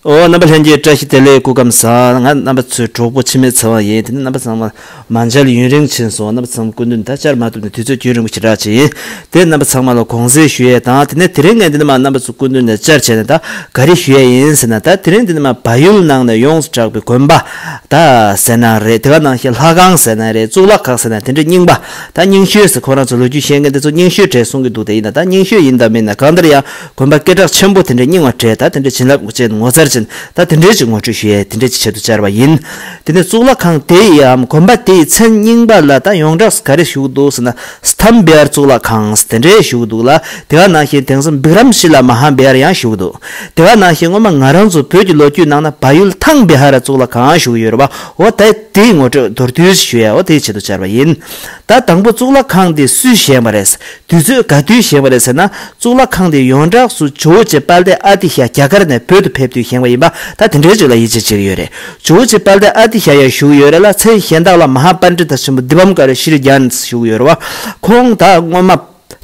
ཨོ་རྣམ་པ་ལྷན་སྐྱེས་བཀྲ་ཤིས་བདེ་ལེགས་སྐུ་སྐམ་ས་ང་རྣམ་པ་ཚོའི་གྲོགས་པོ་འཆི་མེད་ཚེ་དབང་ཡིན་དེ་ནི་རྣམ་པ་ཚང་མ་མ་མཇལ་ཡུན་རིང་ཕྱིན་སོང་རྣམ་པ་ཚང་མ་སྐུ་མདུན་ད་བཅར་མ་ཐུབ་ནས་དུས་ཚོད་རྒྱུན་རིང་པོ་ཞེ་དྲག་ཅིག་ཡིན་དེ་རྣམ་པ་ཚང་མ་ལ་དགོངས་སེལ་ཞུ་ཡས་དང་དེ་ནས་དེ་རིང་ངས་འདི་ནས་མ་རྣམ་པ་ཚོ་སྐུ་མདུན་ནས་བཅར་བྱས་ནས་ད་ག་རེ་ཞུ་ཡས་ཡིན་ཟེར་ན་ད་དེ་རིང་འདི་ནས་མ་བ་ཡུལ་ནང་ནས་ཡོངས་སུ་གྲགས་པའི་དགོན་པ་ད་ཟེར་ན་རེད་དེ་ག་ནང་ཞིག་ལྷ་ཁང་ཟེར་ན་རེད་གཙུག་ལག་ཁང་ཟེར་ན་དེ་འདྲའི་རྙིང་པ་ད་རྙིང་ཤོས་ཟེར་ཁོ་རང་ཚོ་ལོ་རྒྱུས་ཤེས་མཁན་དེ་ཚོ་རྙིང་ཤོས་གྲས་གསུང་གི་འདུག་དེ་ཡིན་ན་ད་རྙིང་ཤོས་ཡིན་དང་མིན་ན་གང་ལྟར་ཡང། དགོན་པ་སྐད་གྲགས་ཆེན་པོ་དེ་འདྲའི་རྙིང་བ་གྲས་ད་དེ་འདྲའི་བྱིན་རླབས་ཅན་ངོ་མཚར་ཅན་ད་དེ་འདྲའི་ཅིག་ངོ་སྤྲོད་ཞུ་ཡས་དེ་འདྲའི་ཅིག་བྱེད་དུ་བཅར་བ་ཡིན། དེ་ནས་གཙུག་ལག་ཁང་དེ་ཡིའམ་དགོན་པ་དེའི་མཚན་རྙིང་པ་ལ་ད་ཡོངས་གྲགས་སུ་ག་རེ་བཞུགས་འདུག་ཟེར་ན་སཐམ་བེ་ཡར་གཙུག་ལག་ཁང་དེ་འདྲའི་བཞུགས་འདུག་ལ་དེ་ག་ནང་བཞིན་དེང་སང་བིཀ་རམ་ཤི་ལ་མ་ཧ་བེ་ཡར་ཡང་བཞུགས་འདུག་དེ་ག་ནང་བཞིན་སྔོན་མ་ང་རང་ཚོ་བོད་ཀྱི་ལོ་རྒྱུས་ནང་ན་བ་ཡུལ་ཐང་བེ་ཧ་ར་གཙུག་ལག་ཁང་བཞུགས་ཡོད་རེད་བ་འོ་ད་དེའི་ངོ་སྤྲོད་མདོར་བསྡུས་ཞིག་ཞུ་ཡས་འོ་དེ་བྱེད་དུ་བཅར་བ་ཡིན། ད་དང་པོ་གཙུག་ལག་ཁང་དེ་སུས་བཞེངས་པ་རེད། དུས་ཚོད་ག་དུས་བཞེངས་པ་རེད་ཟེར་ན་གཙུག་ལག་ཁང་དེ་ཡོངས་གྲགས་སུ་ཇོ་བོ་རྗེ་དཔལ་ལྡན་ཨ་ཏི་ཤ་རྒྱ་གར་ནས་བོད་དུ་ཕེབས་དུས་བཞེངས་པ་ཡིན་པ་ད་དེ་འདྲའི་རིགས་ལ་ཡིད་ཆེས་བྱེད་ཀྱི་ཡོད་རེད་ཇོ་བོ་རྗེ་དཔལ་ལྡན་ཨ་ཏི་ཤ་ཡང་བཞུགས་ཡོད་རེད་ལ་མཚན་གཞན་དག་ལ་མ་ཧཱ་པཱ་ནྲི་ཏཱ་ཆེན་པོ་དི་བམ་ཀ་རི་ཤྲི་རི་རྒྱཱན་ས་བཞུགས་ཡོད་རེད་བ། ཁོང་དག་སྔོན་མ་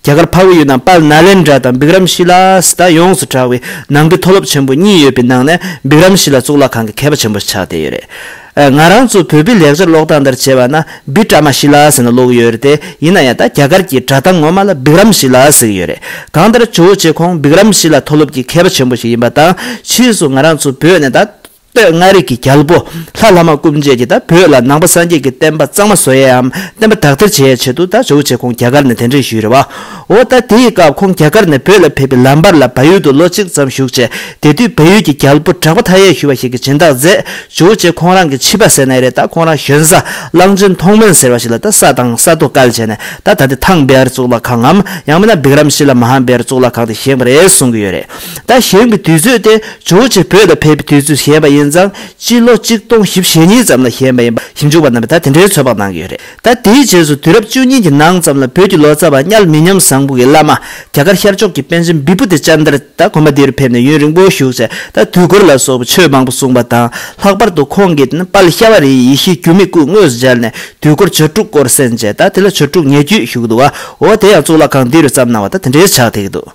རྒྱ་གར་འཕགས་བོད་ཡུལ་ནང་དཔལ་ནཱ་ལེནྡྲ་དང་བིཀ་རམ་ཤི་ལ་སི་ཏཱ་ཡོངས་སུ་གྲགས་བའི་ནང་གི་མཐོ་སློབ་ཆེན་པོ་གཉིས་ཡོད་པའི་ནང་ནས་བིཀ་རམ་ཤི་ལ་གཙུག་ལག་ཁང་གི་མཁས་པ་ཆེན་པོ་ཆགས་བསྡད་ཡོད་རེད། ང་རང་ཚོ་བོད་པའི་ལེགས་སྦྱར་ཀློག་སྟངས་ལྟར་བྱས་པ་ན་སྦི་ཀྲ་མ་ཤི་ལ་ཟེར་ནས་ཀློག་གི་ཡོད་རེད་དེ་ཡིན་ན་ཡང་ད་རྒྱ་གར་གྱི་སྒྲ་གདངས་ངོ་མ་ལ་སྦིག་རམ་ཤི་ལ་ཟེར་གྱི་ཡོད་རེད། གང་ལྟར་ཇོ་བོ་རྗེ་ཁོང་སྦིག་རམ་ཤི་ལ་མཐོ་སློབ་ཀྱི་མཁས་པ་ཆེན་པོ་ཞིག་ཡིན་པ་དང་ཕྱིས་སུ་ང་རང་ཚོ་བོད་ནས་ད་སྟོད་མངའ་རིས་ཀྱི་རྒྱལ་པོ་ལྷ་ལྷ་མ་སྐུ་མཆེད་ཀྱིས་ད་བོད་ལ་ནང་པ་སངས་རྒྱས་ཀྱི་བསྟན་པ་གཙང་མ་བཟོ་ཡའམ་བསྟན་པ་དག་ཐེར་བྱེད་ཡའི་ཆེད་དུ་ད་ཇོ་བོ་རྗེ་ཁོང་རྒྱ་གར་ནས་གདན་འདྲེན་ཞུས་ཡོད་རེད་བ། འོ་ད་དེའི་སྐབས་ཁོང་རྒྱ་གར་ནས་བོད་ལ་ཕེབས་པའི་ལམ་བར་ལ་བལ་ཡུལ་དུ་ལོ་གཅིག་ཙམ་བཞུགས་རྗེས་དེ་དུས་བལ་ཡུལ་གྱི་རྒྱལ་པོ་གྲགས་པ་མཐའ་ཡས་ཞུ་བ་ཞིག་གིས་སྦྱིན་བདག་མཛད། བཞུགས་རྗེས་ཁོང་རང་གིས་ཕྱིས་པ་ཟེར་ནའི་རེད་ད་ཁོང་རང་གཞོན་བཟའ་གླང་ཆེན་མཐོང་དཔོན་ཟེར་བ་ཞིག་ལ་ད་ས་དང་ས་རྡོ་བཀལ་བྱས་ནས་ད་ད་དེ་ཐང་བེ་ཨར་གཙུག་ལག་ཁང་ངམ་ཡང་མིན་ན་བིཀ་རམ་ཤི་ལ་མ་ཧཱ་བེ་ཨར་གཙུག་ལག་ཁང་དེ་བཞེངས་པ་རེད་གསུང་གི་ཡོད་རེད། ད་བཞེངས་པའི་དུས་ཚོད་དེ་བཞུགས་རྗེས་བོད་ལ་ཕེབས་པའི་དུས་ཚོད་བཞེངས་པ་ཡིན་ཙང་སྤྱི་ལོ་གཅིག་སྟོང་བཞི་བཞི་གཉིས་ཙམ་ལ་བཞེངས་པ་ཡིན་པ་ཞིབ་འཇུག་པ་རྣམས་པས་ད་དེ་འདྲའི་ཚོད་དཔག་གནང་གི་ཡོད་རེད། ད་དེའི་རྗེས་སུ་དུས་རབས་བཅུ་གཉིས་ཀྱི་ནང་ཙམ་ལ་བོད་ཀྱི་ལོ་ཙཱ་བ་དམྱལ་མི་ཉམས་བཟང་པོ་གྱི་བླ་མ་རྒྱ་གར་ཤར་ཕྱོགས་ཀྱི་པཎ་ཆེན་བི་བྷུ་ཏི་ཅཱན་ཏར་ད་དགོན་པ་འདིར་ཕེབས་ནས་ཡུན་རིང་པོ་བཞུགས་ཚེ་ད་དུས་འཁོར་ལ་སོགས་པའི་ཆོས་མང་པོ་གསུངས་པ་དང་ལྷག་པར་དུ་ཁོང་གིས་པཱལི་ཤྭ་བ་རིའི་ཡེ་ཤེས་སྒྱུ་མའི་སྐུ་དངོས་སུ་སྦྱར་ནས་དུས་འཁོར་བྱ་དཀྲུགས་སྐོར་གསན་རྗེས་ད་དེ་ལ་བྱ་དཀྲུགས་ཉེ་བརྒྱུད་བཞུགས་འདུག་བའོ་དེ་ཡང་གཙུག་ལག་ཁང་འདི་རུ་བརྩམས་གནང་བ་ད་དེ་འདྲའི་ཕྱག་ཐེག་འདུག་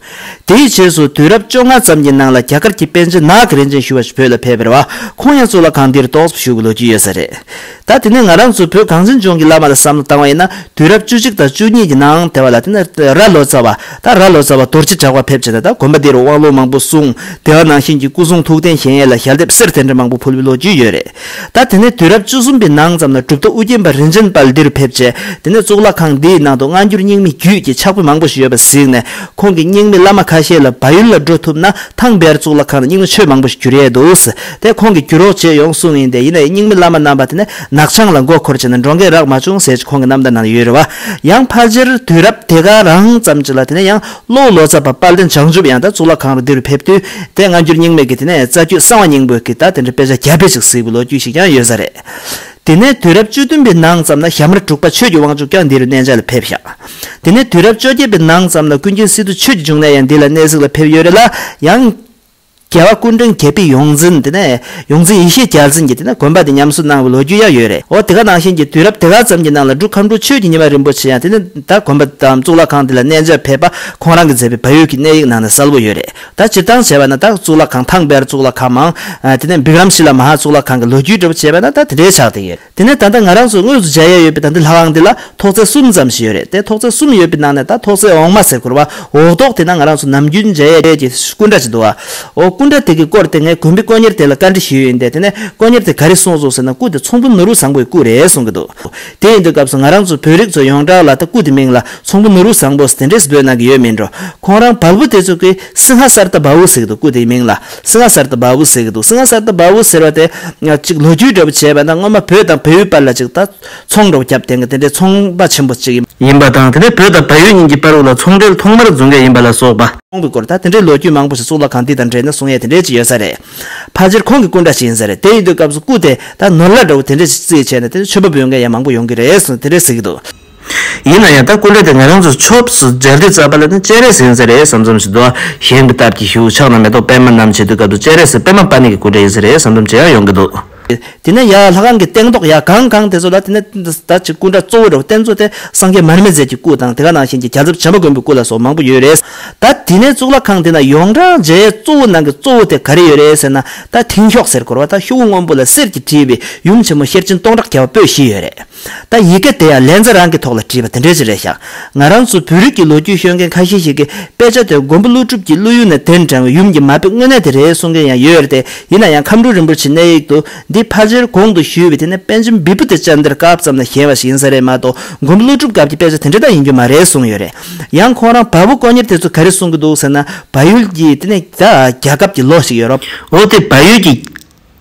དེའི་རྗེས་སུ་དུས་རབས་བཅོ་ལྔ་ཙམ་གྱི་ནང་ལ་རྒྱ་གར་གྱི་པཎ་ཆེན་ནག་གི་རིན་ཆེན་ཞུ་བ་ཞིག་བོད་ལ་ཕེབས་པར་བ་ཁོང་ཡང་གཙུག་ལག་ཁང་འདིར་རྟོགས་སུ་བཞུགས་པའི་ལོ་རྒྱུས་ཡོད་ས་རེད། ད་དེ་ནས་ང་རང་ཚོ་བོད་གངས་ཅན་ལྗོངས་ཀྱི་བླ་མ་ལ་བསམ་བློ་བཏང་བ་ཡིན་ན་དུས་རབས་བཅུ་གཅིག་དང་བཅུ་གཉིས་ཀྱི་ནང་དེ་བ་ལ་དེ་ནས་ར་ལོ་ཙཱ་བ་ད་ར་ལོ་ཙཱ་བ་རྡོ་རྗེ་གྲགས་པ་ཕེབས་བྱས་ན་ད་དགོན་པ་འདིར་དབང་ལུང་མང་པོ་གསུང་དེ་བ་ནང་བཞིན་གྱི་སྐུ་གསུང་ཐུགས་རྟེན་གཞན་ཡས་ལ་ཞལ་འདེབས་གསེར་དེ་འདྲ་མང་པོ་ཕུལ་བའི་ལོ་རྒྱུས་ཡོད་རེད་ད་དེ་ནས་དུས་རབས་བཅུ་གསུམ་པའི་ནང་ཙམ་ན་གྲུབ་ཐོབ་དབུ་རྒྱན་པ་རིན་ཆེན་དཔལ་འདི་རུ་ཕེབས་རྗེས་དེ་ནས་གཙུག་ལག་ཁང་འདིའི་ནང་དུ་སྔ་འགྱུར་རྙིང་མའི་རྒྱུད་ཀྱི་ཕྱག་དཔེ་མང་པོ་ཞིག་ཡོད་པ་གཟིགས་ནས་ཁོང་གིས་རྙིང་མའི་བླ་མ་ཁ་ཤས་ལ་བ་ཡུལ་ལ་འགྲོ་ཐུབ་ན་ཐང་བར་གཙུག་ལག་ཁང་ནས་རྙིང་མ་ཆོས་མང་པོ་ཞིག་བསྒྱུར་ཡས་འདུག་དེ་ཁོང་གིས་བསྒྱུར་རོགས་བྱེད་ཡོང་གསུངས་ཡིན་ཏེ་ཡིན་ན་ཡི་སྙིང་མི་བླ་མ་རྣམ་པ་དེ་ནི་ནག་ཆང་ལ་མགོ་འཁོར་བྱས་ན་འགྲོ་འགས་རག་མ་བྱུང་ཟེར་གྱི་ཁོང་གི་རྣམ་ཐར་ནང་དུ་ཡོད་རེད་བ། ཡང་ཕ་རྗེར་དུས་རབས་དེ་ག་རང་ཙམ་གྱི་ལ་དེ་ནས་ཡང་གློའུ་ལོ་ཙཱ་བ་དཔལ་ལྡན་བྱང་ཆུབ་ཡང་ད་གཙུག་ལག་ཁང་རུ་འདི་རུ་ཕེབས་དུས་དེ་སྔ་འགྱུར་རྙིང་མེད་ཀྱི་དེ་ནས་རྩ་རྒྱུད་གསང་བ་སྙིང་པོའི་ཀི་ད་དེ་འདྲའི་དཔེ་ཆ་རྒྱ་དཔེ་ཅིག་གཟིགས་པའི་ལོ་རྒྱུས་ཤིག་ཀྱང་ཡོད་ས་རེད། དེ་ནས་དུས་རབས་བཅུ་བདུན་པའི་ནང་ཙམ་ན་ཞྭ་དམར་དྲུག་པ་ཆོས་ཀྱི་དབང་ཕྱུག་ཀྱང་འདི་རུ་གནས་འཇགས་ལ་ཕེབས་ཤག་དེ་ནས་དུས་རབས་བཅོ་བརྒྱད་པའི་ནང་ཙམ་ན་ཀུན་མཁྱེན་སི་ཏུ་ཆོས་ཀྱི་འབྱུང་གནས་ཡང་འདི་ལ་གནས་གཟིགས་ལ་ཕེབས་ཡོད་རེད་ལ་ཡང། རྒྱལ་བ་ཀུན་འབྱུང་རྒྱལ་པོའི་ཡོངས་འཛིན་དེ་ནས་ཡོངས་འཛིན་ཡེ་ཤེས་རྒྱལ་མཚན་གྱི་དེ་ནས་དགོན་པ་དེ་ཉམས་གསོ་གནང་བའི་ལོ་རྒྱུས་ཡང་ཡོད་རེད་འོ་དེ་ག་ནང་བཞིན་གྱི་དུས་རབས་དེ་ག་ཙམ་གྱི་ནང་ལ་འབྲུག་ཁམས་འབྲུག་ཆོས་ཀྱི་ཉི་མ་རིན་པོ་ཆེ་ཡང་དེ་ནས་ད་དགོན་པ་དང་གཙུག་ལག་ཁང་དེ་ལ་གནས་མཇལ་ཕེབས་པ་ཁོང་རང་གིས་མཛད་པའི་བལ་ཡུལ་གྱི་གནས་ཡིག་ནང་ནས་གསལ་བོ་ཡོད་རེད་ད་སྤྱིར་བཏང་བྱས་པ་ན་ད་གཙུག་ལག་ཁང་ཐང་དཔལ་གཙུག་ལག་ཁང་མང་དེ་ནས་འབིག་རམ་ཤི་ལ་མ་ཧཱ་གཙུག་ལག་ཁང་གི་ལོ་རྒྱུས་འབྲི་བ་བྱས་པ་ན་ད་དེ་འདྲའི་ཆགས་བསྡད་ཡོད། དེ་ནས་ད་ལྟ་ང་རང་ཚོའི་དངོས་སུ་མཇལ་ཡས་ཡོད་པའི་ད་ལྟའི་ལྷ་ཁང་འདི་ལ་ཐོག་རྩེག་གསུམ་ཙམ་ཞིག་ཡོད་རེད་དེ་ཐོག་རྩེག་གསུམ་ཡོད་པའི་ནང་ནས་ད་ཐོག་རྩེག་འོག་མ་ཟེར་གོར་བ་འོག་ཐོག་དེ་ན་ང་རང་ཚོ་ནམ་རྒྱུན་མཇལ་ཡས་ཀྱི་སྐུ་འདྲ་ཅིག་འདུག་ཨོ། སྐུ་འདྲ་དེ་གི་སྐོར་དེ་ངས་དགོན་པའི་དཀོན་གཉེར་དེ་ལ་བཀའ་འདྲི་ཞུས་ཡོད་འདས་དེ་ནས་དཀོན་གཉེར་དེ་ག་རེ་གསུངས་སོང་ཟེར་ན་སྐུ་དེ་ཚོང་བུ་ནོར་བུ་བཟང་པོའི་སྐུ་རེད་གསུངས་གི་འདུག་དེ་ཡིན་དུས་སྐབས་སུ་ང་རང་ཚོ་བོད་རིགས་ཚོ་ཡོངས་གྲགས་ལ་ད་སྐུ་དེ་མིང་ལ་ཚོང་བུ་ནོར་བུ་བཟང་པོ་ཟེར་དེ་འདྲས་སུ་འབོད་གནང་གི་ཡོད་མིན་འགྲོ་ཁོང་རང་བལ་བོ་དེ་ཚོ་གི་སིང་ཧ་སར་ད་བ་བུ་ཟེར་གི་འདུག་སྐུ་དེ་ཡི་མིང་ལ་སིང་ང་སར་དུ་བ་བུ་ཟེར་གྱི་འདུག་སིང་ང་སར་དུ་བ་བུ་ཟེར་བ་དེ། གཅིག་ལོ་རྒྱུས་འདྲ་པོ་བྱས་པ་ན་སྔོན་མ་བོད་དང་བལ་ཡུལ་བར་ལ་གཅིག་ད་ཚོང་འདྲ་པོ་བརྒྱབ་དེང་གི་དེ་འདྲའི་ཚོང་པ་ཆེན་པོ་གཅིག་ཡིན་པ་དང་དེ་ནས་བོད་དང་བལ་ཡུལ་གཉིས་ཀྱི་པར་བུ་ལ་ཚོང་འབྲེལ་ཐོག་མར་བརྫུ་འགས་ཡིན་པ་ལ་སོགས་པ། ཁོང་གི་སྐོར་ད་དེ་འདྲའི་ལོ་རྒྱུས་མང་པོ་ཞིག་གཙུག་ལག་ཁང་འདི་དང་འབྲེལ་ནས་གསུང་ཡས་དེ་འདྲས་ཅིག་ཡོད་ས་རེད། ཕ་སྤྱིར་ཁོང་གི་སྐུ་འདྲ་ཞིག་ཡིན་ས་རེད་དེ་ཡིན་དུས་སྐབས་སུ་སྐུ་དེ་ད་ནོར་ལ་འདྲ་བོ་དེ་འདྲས་ཅིག་རྩིས་བྱས་ནས་དེ་འདྲའི་ཆོས་པ་བོད་འགས་ཡང་མང་པོ་ཡོང་གི་རེད་ཟེར་ནས་དེ་འདྲས་ཟེར་གྱི་འདུག། ཡིན་ན་ཡང་ད་ཀུན་གྲོལ་དེ་ང་རང་ཚོ་ཆོབས་སུ་སྦྱར་དུས་རྩ་བ་ལ་ནི་སྤྱན་རས་གཟིགས་ཟེར་རེད་བསམ་ཙམ་ཞིག་འདུག་ཨ། གཞན་གྱི་སྟབས་ཀྱིས་ཞུགས་ཆགས་ན་མེ་ཏོག་པད་མ་རྣམས་བྱེད་དུས་སྐབས་དུ་སྤྱན་རས་གཟིགས་པད་མ་པ་ནི་གྱི་ཀུན་གྲོལ་ཡིན་ཟེར་རེད་བསམ་ཙམ་ཅི་ཡང་ཡོང་གི་འདུག། དེ་ནས་ཡང་ལྷ་ཁང་གི་སྟེང་ཏོག་ཡང་གང་གང་དེ་ཚོ་ལ་དེ་ནས་ད་ཅིག་སྐུ་འདྲ་གཙོ་བོ་རེ་བ་རྟེན་གཙོ་དེ་སངས་རྒྱས་མར་མེ་མཛད་ཀྱི་སྐུ་དང་དེ་ག་ནང་བཞིན་གྱི་རྒྱ་ཚབ་བྱམས་པ་མགོན་པོའི་སྐུ་ལ་སོགས་མང་པོ་ཡོད་རེད། ད་དེ་ནས་གཙུག་ལག་ཁང་དེ་ན་ཡོངས་གྲགས་མཇལ་གཙོ་བོ་ནང་གི་གཙོ་བོ་དེ་ག་རེ་ཡོད་རེད་ཟེར་ན་ད་དེང་ཤོག་སེར་འཁོར་བ་དང་ཤོག་བུ་སྔོན་པོ་ལ་གསེར་གྱིས་བྲིས་པའི་ཡུམ་ཆེན་མོ་ཤེར་ཕྱིན་སྟོང་ཕྲག་བརྒྱ་པ་པོད་བཞི་ཡོད་རེད། ད་ཡི་གེ་དེ་ཡང་ལན་ཚྭ་རང་གི་ཐོག་ལ་བྲིས་པ་དེ་འདྲས་ཅིག་རེད་ཤག་ང་རང་ཚོ་བོད་རིགས་ཀྱི་ལོ་རྒྱུས་ཤོད་མཁན་ཁ་ཤས་ཤིག་གིས་དཔེ་ཆ་དེ་མགོན་པོ་ཀླུ་སྒྲུབ་ཀྱི་ཀླུ་ཡུལ་ནས་དེད་འབྲང་བའི་ཡུམ་གྱི་མ་དཔེ་དངོས་གནས་དེ་རེད་གསུང་མཁན་ཡང་ཡོད་རེད་དེ་ཡིན་ན་ཡང་ཁམས་སྤྲུལ་རིན་པོ་ཆེའི་གནས་ཡིག་ཏུ་འདི་ཕ་རྗེར་གོང་དུ་ཞུས་པའི་དེ་ནས་པན་ཆེན་བི་བུ་དེ་བཅར་འདིར་སྐབས་ཙམ་ལ་བཞེངས་བ་ཞིག་ཡིན་ས་རེད་མ་གཏོགས་མགོན་པོ་ཀླུ་སྒྲུབ་སྐབས་ཀྱི་དཔེ་ཆ་དེ་འདྲ་དག་ཡིན་རྒྱུ་མ་རེད་གསུང་ཡོད་རེད་ཡང་ཁོང་རང་བ་བུ་དཀོན་གཉེར་དེ་ཚོ་ག་རེ་གསུང་གི་འདུག་ཟེར་ན་བ་ཡུལ་གྱི་དེ་ནས་ད་རྒྱ་ཁབ་ཀྱི་ལོགས་ཤིག་ཡོད་རོགས། འོ་དེ་བ་ཡུལ་གྱི་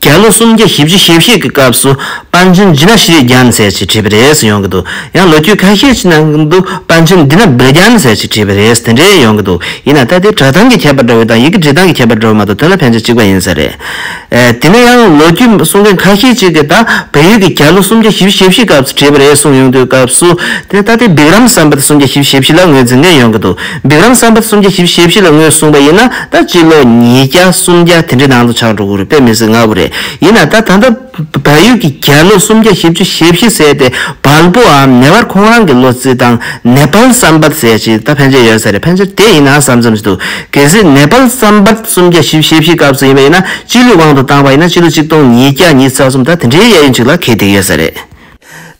རྒྱ་ལོ་སུམ་བརྒྱ་བཞི་བཅུ་ཞེ་བཞི་གི་སྐབས་སུ་པཎ་ཆེན་རྗེ་ན་ཤྲཱི་རྒྱ་ནི་ཟེར་ཞིག་བྲིས་པ་རེད་ཟེར་ཡོང་གི་འདུག་ཡང་ལོ་རྒྱུས་ཁ་ཤས་ཀྱི་ནང་གི་འདུག་པཎ་ཆེན་འདི་ན་སྦིར་རྒྱ་ནི་ཟེར་ཞིག་བྲིས་པ་རེད་དེ་འདྲས་ཡོང་གི་འདུག་ཡིན་ན་ད་དེ་གྲགས་སྟངས་ཀྱི་ཁྱད་པར་འདྲ་བོ་དང་ཡི་གེ་འབྲི་སྟངས་ཀྱི་ཁྱད་པར་འདྲ་བོ་མ་གཏོགས་དོན་ལ་ཕན་ཆ་གཅིག་པ་ཡིན་ས་རེད། དེ་ནས་ཡང་ལོ་རྒྱུས་གསུང་མཁན་ཁ་ཤས་ཅིག་གིས་ད་བལ་ཡུལ་གྱི་རྒྱ་ལོ་སུམ་བརྒྱ་བཞི་བཅུ་ཞེ་བཞི་སྐབས་སུ་བྲིས་པ་རེད་གསུངས་ཡོང་དུས་སྐབས་སུ་དེ་ནས་ད་དེ་སྦིར་རམ་བསམ་པ་དེ་སུམ་བརྒྱ་བཞི་བཅུ་ཞེ་བཞི་ལ་ངོས་འཛིན་མཁན་ཡོང་གི་འདུག་སྦིག་རམ་བསམ་པ་སུམ་བརྒྱ་བཞི་ཞེ་བཞི་ལ་ངོས་བཟུང་བ་ཡིན་ན་ད་སྤྱི་ལོ་ཉིས་བརྒྱ་སུམ་བརྒྱ་དེ་འདྲའི་ནང་དུ་ཆགས་འགྲོ་དགོས་རེད་དཔེ་མི་སྲིད་ང་བོ་རེད་ཡིན་ན་ད་ད་ལྟ་བལ་ཡུལ་གྱི་རྒྱ་ལོ་སུམ་བརྒྱ་བཞི་བཅུ་ཞེ་བཞི་ཟས་ཏེ་བལ་པོའམ་ནེ་བར་ཁོང་རང་གི་ལོ་རྩིས་དང་ནེ་པལ་བསམ་པ་ཟས་ཅིག་ད་ཕན་ཆད་ཡོད་ས་རེད་ཕན་ཆད་དེ་ཡིན་ན་བསམ་བསམ་བྱེད་འདུག་གལ་སྲིད་ནེ་པལ་བསམ་པ་སུམ་བརྒྱ་བཞི་ཞེ་བཞི་སྐབས་སུ་ཡིན་པ་ཡིན་ན་སྤྱི་ལོའི་དབང་དུ་བཏང་བ་ཡིན་ན་སྤྱི་ལོ་གཅིག་སྟོང་ཉིས་བརྒྱ་ཉིས་ཚར་གསུམ་ད་དེ་འདྲའི་གཡས་གཡོན་ཅིག་ལ་གས་འདེགས་ཡོད་ས་རེད།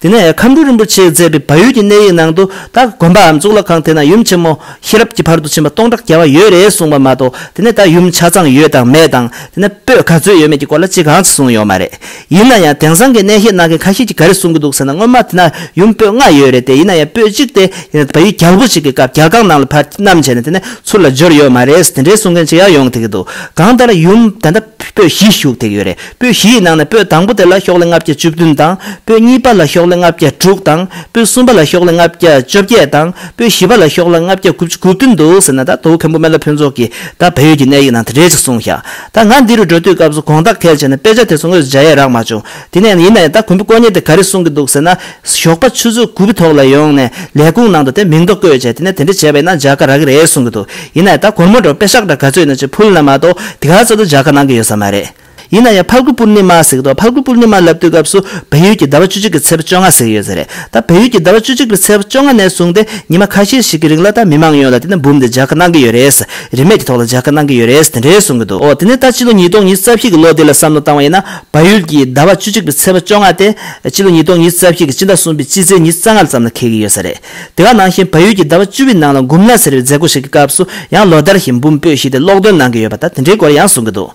དེ་ནས་ཁམས་སྤྲུལ་རིན་པོ་ཆེས་མཛད་པའི་བ་ཡུལ་གྱི་གནས་ཡིག་ནང་དུ་ད་དགོན་པའམ་གཙུག་ལག་ཁང་དེ་ན་ཡུམ་ཆེན་མོ་ཤེས་རབ་ཀྱི་བར་དུ་ཕྱིན་པ་སྟོང་ཕྲག་བརྒྱ་བ་ཡོད་རེད་གསུངས་པ་མ་གཏོགས་དེ་ནས་ད་ཡུམ་ཆ་ཚང་ཡོད་དང་མེད་དང་དེ་ནས་སྤོས་ག་ཚོད་ཡོད་མེད་ཀྱི་སྐོར་ལ་ཅི་གང་ཅི་གསུངས་ཡོད་མ་རེད། ཡིན་ན་ཡང་དེང་སང་གི་གནས་བཤད་གནང་མཁན་ཁ་ཤས་ཀྱིས་ག་རེ་གསུངས་ཀྱི་འདུག་ཟེར་ན་སྔོན་མ་དེ་ན་ཡུམ་སྤོས་ལྔ་ཡོད་རེད་དེ་ཡིན་ན་ཡང་སྤོས་གཅིག་དེ་ཡིན་ན་བ་ཡུལ་རྒྱལ་པོ་ཞིག་གི་སྐབས་རྒྱལ་རྐང་ནང་ལ་བར་བསྣམས་བྱས་ནས་དེ་ནས་ཚུར་ལ་འབྱོར་ཡོད་མ་རེད་དེ་འདྲའི་གསུང་མཁན་ཅིག་ཡང་ཡོང་ཐེག་གི་འདུག་གང་ལྟར་ཡུམ་ད་ལྟ་སྤོས་བཞི་བཞུགས་ཐེག་ཡོད་རེད། པོད་བཞི་ཡི་ནང་ནས་པོད་དང་པོ་དེ་ལ་ཤོག་ལྷེ་ལྔ་བརྒྱ་བཅུ་བདུན་དང། པོད་གཉིས་པ་ལ་ཤོག་ལྷེ་ལྔ་བརྒྱ་དྲུག་དང། པོད་གསུམ་པ་ལ་ཤོག་ལྷེ་ལྔ་བརྒྱ་བཅོ་བརྒྱད་དང། པོད་བཞི་པ་ལ་ཤོག་ལྷེ་ལྔ་བརྒྱ་དགུ་བཅུ་དགུ་བདུན་འདུག་ཟེར་ན་ད་དོ་མཁན་པོ་སྨན་བླ་ཕུན་ཚོགས་ཀྱིས་ད་བལ་ཡུལ་གྱི་གནས་ཡིག་ནང་དེ་རེད་ཅིག་གསུངས་ཤག་ད་ང་འདི་རུ་འགྲོ་དུས་སྐབས་སུ་དགོངས་དག་གལ་ཆེ་ནས་དཔེ་ཆ་དེ་ཚོ་དངོས་སུ་འཇལ་ཡས་རག་མ་བྱུང་དེ་ནས་ཡིན་ན་ཡང་ད་མཁན་པོ་དཀོན་གཉེར་དེ་ག་རེ་གསུངས་ཀྱི་འདུག་ཟེར་ན། ཞོགས་པ་ཆུ་ཚོད་དགུ་བའི་ཐོག་ལ་ཡོང་ནས་ལས་ཁུངས་ནང་དུ་དེ་མིང་ཐོ་བཀོད་བྱས་དེ་ནས་དེ་འདྲ་བྱས་པ་ཡིན་ན་འཇལ་ཁ་རག་གི་རེད་གསུངས་ཀྱི་འདུག་ཡིན་ན་ཡང་ད་གོར་མོ་འགྲོ་དཔེ་ཤག་འདྲ་ག་ཚོད་ཡིན་ན་ཅིག་ཕུལ་ན་མ་གཏོགས་དེ་ག་ཚོད་དུ་འཇལ་ཁ་གནང་གི་ཡོད་ས་མ་རེད། ཡིན་ན་ཡང་ཕར་རྒོལ་པུར་ནི་མ་ཟེགས་དོ། ཕར་རྒོལ་པུར་ནི་མ་ལབ་དུས་སྐབས་སུ་བལ་ཡུལ་གྱི་ཟླ་བ་བཅུ་གཅིག་གི་ཚེས་བཅོ་ལྔ་ཟེགས་ཡོད་ཟེར། ད་བལ་ཡུལ་གྱི་ཟླ་བ་བཅུ་གཅིག་པའི་ཚེས་བཅོ་ལྔ་ནས་བཟུང་སྟེ་ཉི་མ་ཁ་ཤས་ཤིག་གི་རིང་ལ་ད་མི་མང་ཡོངས་ལ་དེ་ནི་འབུམ་དེ་འཇགས་ཁ་གནང་གི་ཡོད་རེད། རིན་མེད་ཀྱི་ཐོག་ལ་འཇགས་ཁ་གནང་གི་ཡོད་རེད་དེ་འདྲས་གསུང་གི་འདུག་འོ་དེ་ནས་ད་ཕྱི་ལོ་ཉིས་སྟོང་ཉིས་རྩ་བཞི་གི་ལོ་དེ་ལ་བསམ་བློ་བཏང་བ་ཡིན་ན་བལ་ཡུལ་གྱི་ཟླ་བ་བཅུ་གཅིག་པའི་ཚེས་བཅོ་ལྔ་དེ། ཕྱི་ལོ་ཉིས་སྟོང་ཉིས་རྩ་བཞི་གི་སྤྱི་ཟླ་གསུམ་པའི་དཔྱིད་ཚེས་ཉིས་རྩ་ལྔ་ཙམ་ལ་འཁེལ་གི་ཡོད་ས་རེད། དེ་ག་ནང་བཞིན་བལ་ཡུལ་གྱི་ཟླ་བ་བཅུ་བའི་ནང་ལ་འགུམ་ལ་ཟེར་བའི་མཛད་སྒོ་ཞིག་གི་སྐབས་སུ་ཡང་ལོ་ཟླར་བཞིན་འབུམ་སྤོས་ཤིག་དེ་ཀློག་འདོན་གནང་གི་ཡོད་པ་ད་དེ་འདྲའི་སྐོར་ཡང་གསུང་གི་འདུག།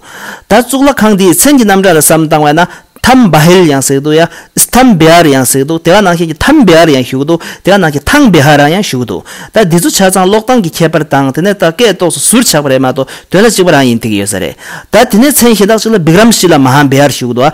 ད་གཙུག་ལག་ཁང་དེའི་མཚན་གྱི་རྣམ་གྲངས་ལ་བསམ་བཏང་བས་ན་ཐམ་བྷ་ཧེལ་ཡང་ཟེར་གི་འདུག་ཡ། Stambehar། ཡང་ཟེར་གི་འདུག་དེ་ག་ནང་བཞིན་གྱི་ཐམ་བྷེ་ཧར་ཡང་ཞུ་གི་འདུག་དེ་ག་ནང་བཞིན་ཐང་བྷེ་ཧར་ཡང་ཞུ་གི་འདུག་ད་འདི་ཚོ་ཆ་ཚང་ཀློག་སྟངས་ཀྱི་ཁྱད་པར་དང་དེ་ནས་ད་སྐད་ཏོག་སོ་ཟུར་ཆགས་པ་རེད་མ་གཏོགས་དོན་ལ་གཅིག་པ་རང་ཡིན་ཐིག་གི་ཡོད་ས་རེད། ད་དེ་ནས་མཚན་གཞན་དག་ཅིག་ལ་བིཀ་རམ་སི་ལ་མ་ཧམ་བྷེ་ཧར་ཞུ་གི་འདུག་ཨ།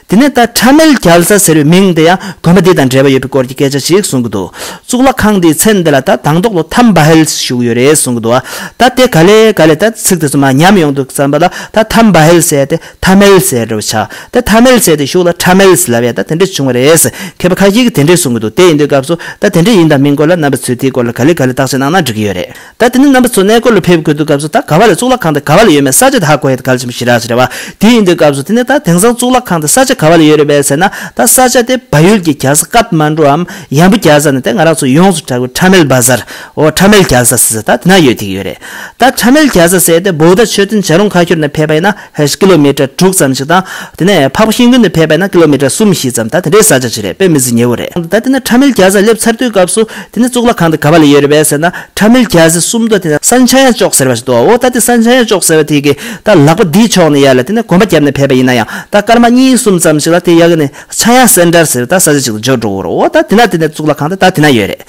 དེ་ནས་ད་ཁྲ་མེལ་རྒྱལ་ས་ཟེར་བའི་མིང་དེ་ཡང་དགོན་པ་འདི་དང་འབྲེལ་བ་ཡོད་པའི་སྐོར་གྱི་སྐད་ཆ་ཞིག་གསུང་གི་འདུག་གཙུག་ལག་ཁང་འདིའི་མཚན་དེ་ལ་ད་དང་ཐོག་ཏུ་དྷམ་བྷ་ཧེལ་བཞུགས་ཡོད་རེད་གསུང་གི་འདུག་ད་དེ་ག་ལས་ག་ལས་ད་ཚིག་དེ་ཚོ་མ་ཉམས་ཡོང་འདུག་བསམ་པ་ལ་ད་དྷམ་བྷ་ཧེལ་ཟེར་ཏེ་དྷ་མེལ་ཟེར་རོ་བྱ་ད་དྷ་མེལ་ཟེར་ཏེ་བཞུགས་ལ་ཁྲ་མེལ་ཟེར་ལབ་ཡ་ད་དེ་འདྲས་བྱུང་བ་རེད་མཁས་པ་ཁ་ཤས་ཀྱིས་དེ་འདྲས་གསུང་གི་འདུག་དེ་ཡིན་དུས་སྐབས་སུ་ད་དེ་འདྲས་ཡིན་དང་མིན་སྐོར་ལ་རྣམ་པ་ཚོས་དེའི་སྐོར་ལ་ག་ལས་ག་ལས་བརྟག་དཔྱད་གནང་ན་འགྲིག་གི་ཡོད་རེད། ད་དེ་ནས་རྣམ་པ་ཚོ་གནས་སྐོར་ལ་ཕེབས་དགོས་འདུག་སྐབས་སུ་ད་ག་བ་ལས་གཙུག་ལག་ཁང་དེ་ག་བ་ལ་ཡོད་མེད་གསར་བརྗོད་ད་ཧ་གོ་ཡ་ད་ག་ལ་ཆེན་པོ་ཞི་རགས་ཞེས་རེད་བ་དེ་ཡིན་དུས་སྐབས་སུ་དེ་ནས་ད་དེང་སང་གཙུག་ལག་ཁང་དེ་ས་ཆ་ག་བ་ལ་ཡོད་རེད་བས་ཟེར་ན་ད་ས་ཆ་དེ་བ་ཡུལ་གྱི་རྒྱལ་ས Kathmanduའམ་ཡང་བུ་རྒྱལ་ས་ནས་ད་ང་རང་ཚོ་ཡོངས་སུ་གྲགས་པའི Tamil Bazar འོ Tamil རྒྱལ་ས་ཟེར་ས་ད་དེ་ན་ཡོད་ཐིག་ཡོད་རེད་ད Tamil རྒྱལ་ས་ཟེར་ཏེ Bouddha མཆོད་རྟེན་བྱ་རུང་ཁ་ཁྱོར་ནས་ཕེབས་པ་ཡིན་ན། ཧེས་ཀི་ལོ་མི་ཀྲ་དྲུག་ཙམ་ཞིག་དང། དེ་ནས་ཕག་པ་ཤིང་ཀུན་ནས་ཕེབས་པས་ན་ཀི་ལོ་མི་ཀྲ་གསུམ་བཞི་ཙམ་ད་དེ་འདྲའི་ས་ཆ་ཞིག་རེད་དཔེ་མི་ཟིན་ཉེ་བོ་རེད། ད་དེ་ནས་ཁྲ་མིལ་རྒྱ་ས་སླེབས་ཚར་དུས་སྐབས་སུ། དེ་ནས་གཙུག་ལག་ཁང་དེ་ག་བ་ལ་ཡོད་རེད་བས་ཟེར་ན། ཁྲ་མིལ་རྒྱ་སའི་སུམ་མདོ་དེ་ན་ས་འཆའ་ཡ་ཅོག་ཟེར་བ་ཞིག་འདུག་ཨོ་ད་དེ་ས་འཆའ་ཡ་ཅོག་ཟེར་བ་དེ་གི་ད་ལག་པ་འདིའི་ཕྱོགས་ནས་ཡར་ལ་དེ་ནས་གོམ་པ་བརྒྱབ་ནས་ཕེབས་པ་ཡིན་ན་ཡང་ད་སྐར་མ་གཉིས་གསུམ་ཙམ་ཞིག་ལ་དེ་ཡ་གི་ནས་འཆའ་ཡ་སེན་དྲར་ཟེར་བའི་ད་ས་ཆ་ཞིག་ཏུ་འབྱོར་འགྲོ་གི་རེད་ཨོ་ད་དེ་ན་དེ་ནས་གཙུག་ལག་ཁང་དེ་ད་དེ་ན་ཡོད་རེད།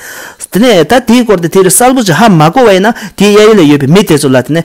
དེ་ནས་ད་དེའི་སྐོར་དེ་དེ་རུ་གསལ་པོ་ཅི་ཧ་མ་གོ་བ་ཡིན་ན་དེའི་གཡས་གཡོན་ལ་ཡོད་པའི་མི་དེ་ཚོ་ལ་དེ་ནས་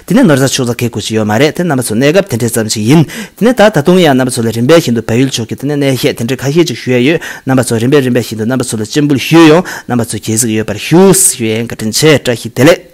དེ་ནས་ནོར་རྫ་ཕྱུགས་རྫ་ཁའི་ཁུལ་ཞིག་ཡོད་མ་རེད་དེ་རྣམ་པ་ཚོ་གནས་སྐབས་དེ་འདྲའི་ཙམ་ཞིག་ཡིན། དེ་ནས་ད་ད་དུང་ཡང་རྣམ་པ་ཚོ་ལ་རིམ་པས་ཤིན་ཏུ་བལ་ཡུལ་ཕྱོགས་ཀྱི་དེ་ནས་གནས་བཤད་དེ་འདྲའི་ཁ་ཤས་ཅིག་ཞུ་ཡས་ཡོད། རྣམ་པ་ཚོ་རིམ་པས་རིམ་པས་ཤིན་ཏུ་རྣམ་པ་ཚོ་ལ་སྤྱན་འབུལ་ཞུས་ཡོང། རྣམ་པ་ཚོ་གྱེས་གཟིགས་ཡོད་པར་ཞུ། ཞུ་ཡས་འགའ་དྲིན་ཆེ་བཀྲ་ཤིས་བདེ་ལེགས།